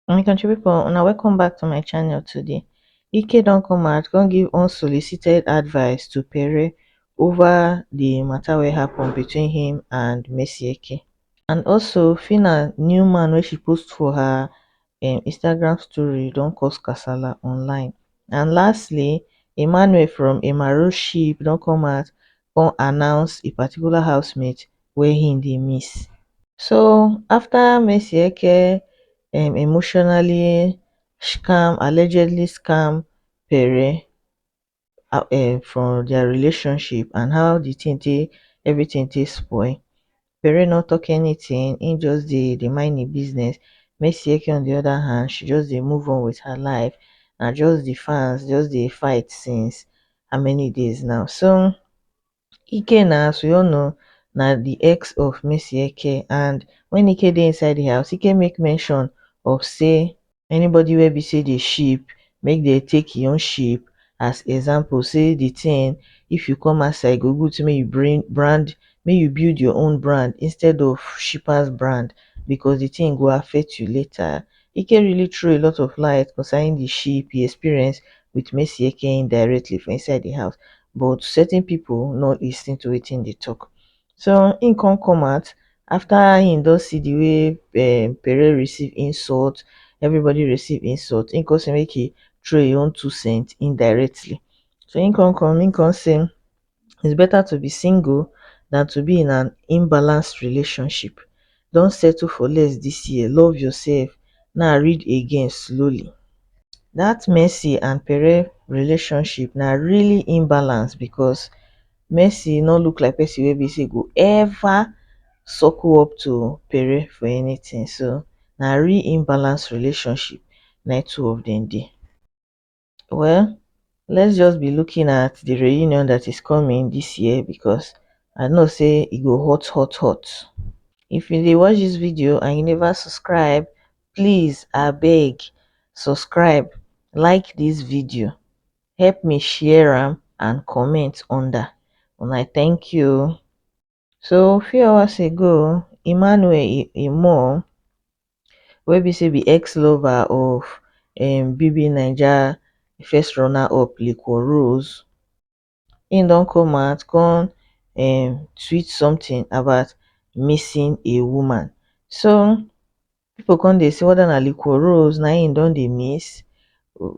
my country people una welcome back to my channel today ike don come out come give unsolicited advice to pere over the matter wey happen between him and Messi Eke. and also Fina new man wey she post for her im instagram story don cause kasala online and lastly emmanuel from emmanuel ship don come out come announce a particular housemate wey im dey miss so afta madueke um emotionally scam allegedly scam pere um for their relationship and how the thing take everything take spoil Pere no talk anything he just dey dey mind him business Mesieke on the other hand she just dey move on with her life na just the fans just dey fight since how many days now so ike na as we all know na di ex of madueke and wen ike dey inside di house ike make mention of say anybody wey be say dey ship make dem take hin own ship as example say di tin if you come outside e go good make you bring brand make you build your own brand instead of shippers brand because di tin go affect you later Ike really throw a lot of light concerning the ship he experienced with Messi Ekein directly for inside the house, but certain people not listening to wetin they talk. So he come come out after he don see the way um, eh, Pere receive insult, everybody receive insult. He come say make he throw his own two cents indirectly. So he come come, he come say is better to be single than to be in an imbalanced relationship don settle for less this year love yourself now read again slowly that mercy and pere relationship na really imbalance because mercy no look like person wey be say go ever suckle up to pere for anything so na real imbalance relationship na two of them dey Well, let's just be looking at the reunion that is coming this year because I know say it e go hot hot hot. If you dey watch this video and you never subscribe, please I beg subscribe, like this video, help me share am and comment under. And I thank you. So few hours ago Emmanuel Imo wey be say be ex lover of um BB Naija first runner up Leko Rose im don come out come um tweet something about missing a woman so People come dey say whether na liquor rose na him don dey miss,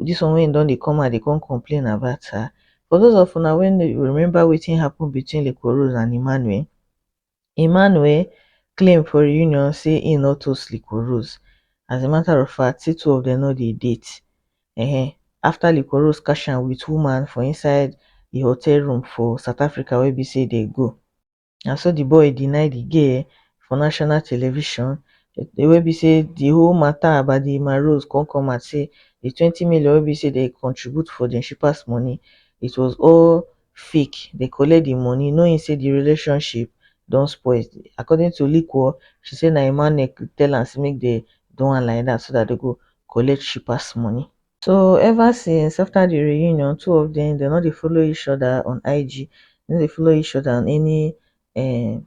this one wey him don dey come out dey come complain about her. For those of una wey no remember wetin happen between liquor rose and Emmanuel, Emmanuel claim for reunion say him no toast liquor rose, as a matter of fact say two of them no dey date um after liquor rose catch am with woman for inside the hotel room for South Africa wey be say dey go. na so di boy deny di girl for national television wey be say di whole matter about di marose come come out say di twenty million wey be say dem contribute for dem shippers money it was all fake dem collect di money knowing say di relationship don spoil according to Liquor she say na Emmanuel tell am say make dem do am like dat so dat dem go collect shippers money so ever since after the reunion two of them dem no dey follow each other on ig dem no dey follow each other on any um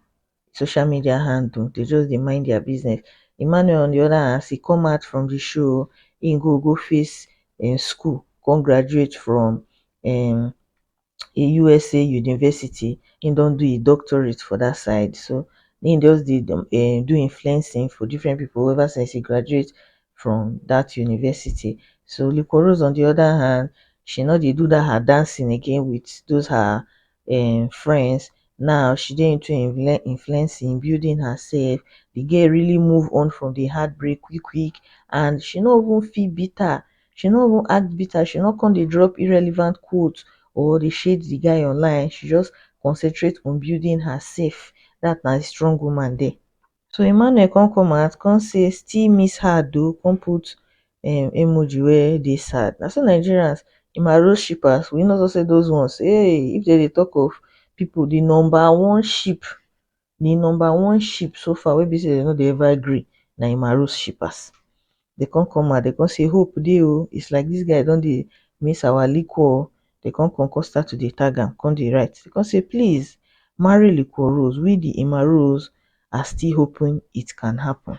social media handle they just dey mind their business emmanuel on the other hand as e come out from the show o im go go face im school come graduate from um a usa university im don do im doctorate for dat side so im just dey um do influencing for different pipo ever since e graduate from dat university so liquorose on di oda hand she no dey do dat her dancing again wit those her um friends now she dey into influencing building hersef di girl really move on from di heart break quick quick and she no even feel bitter she no even act bitter she no come dey drop irrelevant quote or dey shade di guy online she just concentrate on building her sef dat na di strong woman dere so Emmanuel come come out come say still miss her though come put um emoji wey dey sad na so Nigerians di maroon shippers we no know say those ones um if dem dey talk of pipu di number one ship The number one sheep so far wey be sey dem no dey ever gree na Imaro's shippers. Dey come come out, dey come say hope dey o, it's like this guy don dey miss our liquor o, dey come come come start to dey tag am, come dey write, dey come say please marry liquor rose, we the Imaro's are still hoping it can happen.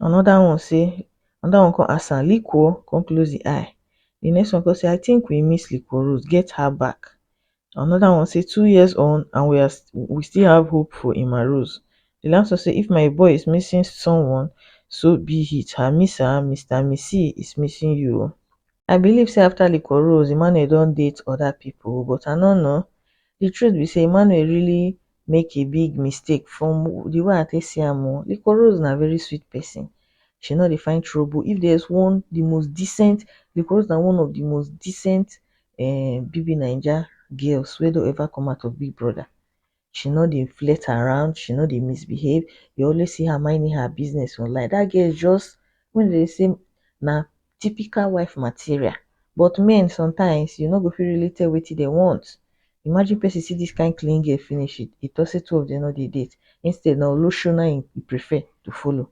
Another one say, another one come ask am, liquor? come close the eye, the next one come say, I think we miss liquor rose, get her back. Another one say two years on and we are we still have hope for Emma Rose. The last one say if my boy is missing someone, so be it. Her misser, Mr. Missy, is missing you. o. I believe say after Liquor Rose, Emmanuel don date other people but I no know. The truth be say Emmanuel really make a big mistake from the way I take see am o. Liquor Rose na very sweet person. She no dey find trouble. If there's one the most decent, Liquor Rose na one of the most decent um bbnaija girls wey don ever come out of big brother she no dey flirt around she no dey misbehave you always see her minding her business online that girl just wetin dem dey say na typical wife material but men sometimes you no go fit really tell wetin dem want imagine person see this kind clean girl finish e talk say two of dem no dey date instead na olosho na him e prefer to follow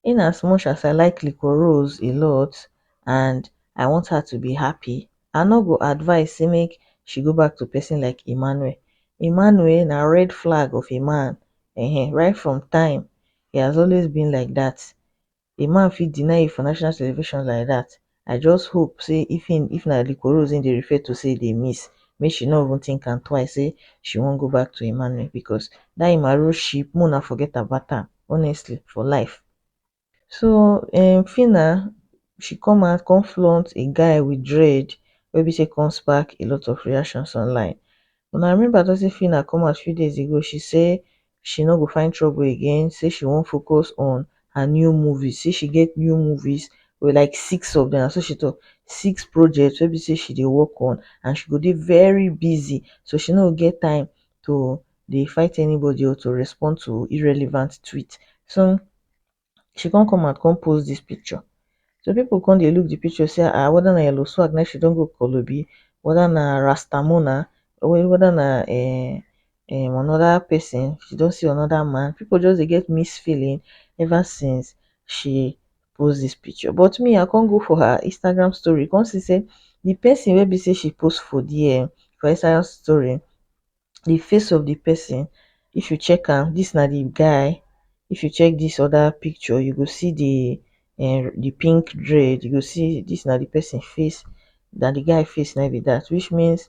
in as much as i like liquorose a lot and i want her to be happy i nor go advise say make she go back to person like emmanuel emmanuel na red flag of a man um right from time he has always been like that a man fit deny you for national television like that i just hope say if him if na liquorose him dey refer to say he dey miss make she no even think am twice say she wan go back to emmanuel because that him arrow ship make una forget about am honestly for life so um phyna she come out come flaunt a guy with dread wey be say come spark a lot of reactions online una remember na say phyna come out few days ago she say she no go find trouble again say she wan focus on her new movies say she get new movies with like six of them so she talk six projects wey be say she dey work on and she go dey very busy so she no get time to dey fight anybody or to respond to irrelevant tweet so she come come out come post this picture so people come dey look the picture say um whether na yellow swag na she don go kolobi whether na rasta muna whether na um um another person she don see another man people just dey get mixed feeling ever since she post this picture but me i come go for her instagram story come see say the person wey be say she post for there for her instagram story di face of di pesin if you check am dis na di guy if you check dis oda picture you go see di um di pink dread you go see dis na di pesin face na di guy face na im be dat which means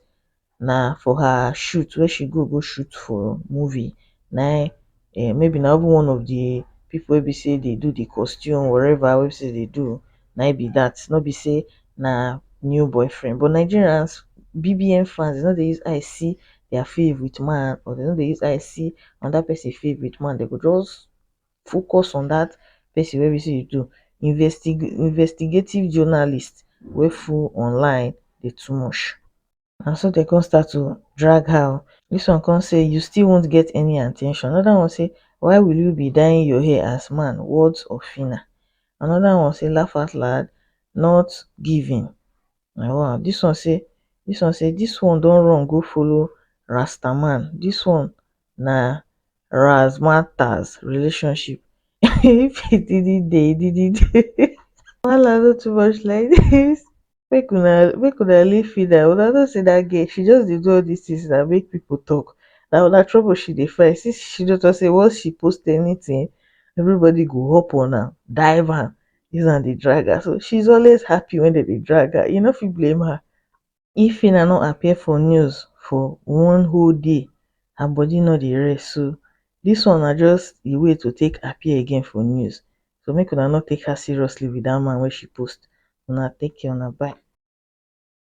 na for her shoot wey she go go shoot for movie na im um maybe na even one of di pipu wey be sey dey do di costume whatever wey be sey dey do na im be dat, nor be sey na new boyfriend. But Nigerians, BBN fans, dem nor dey use eye see their fave with man or dem nor dey use eye see another person fave with man, dem go just focus on dat person wey be sey dey do. Investi investigative journalist wey full online dey too much. na so dem come start to drag her o, dis one come say you still won't get any at ten tion, another one say why will you be dying your hair as man words of Phyna, another one say laugh out loud not giving um dis one say dis one say dis one don run go follow rasta man, dis one na razmataz relationship if e didn't dey e didn't dey wahala no too much like dis. make una make una leave Fida una no see dat girl she just dey do all dis things na make people talk na una trouble she dey find since she don talk say once she post anything everybody go hop on am dive am use am dey drag her so she is always happy when dem dey drag her you no fit blame her if Fina no appear for news for one whole day her body no dey rest so dis one na just a way to take appear again for news so make una no take her seriously with that man wey she post una take care una bye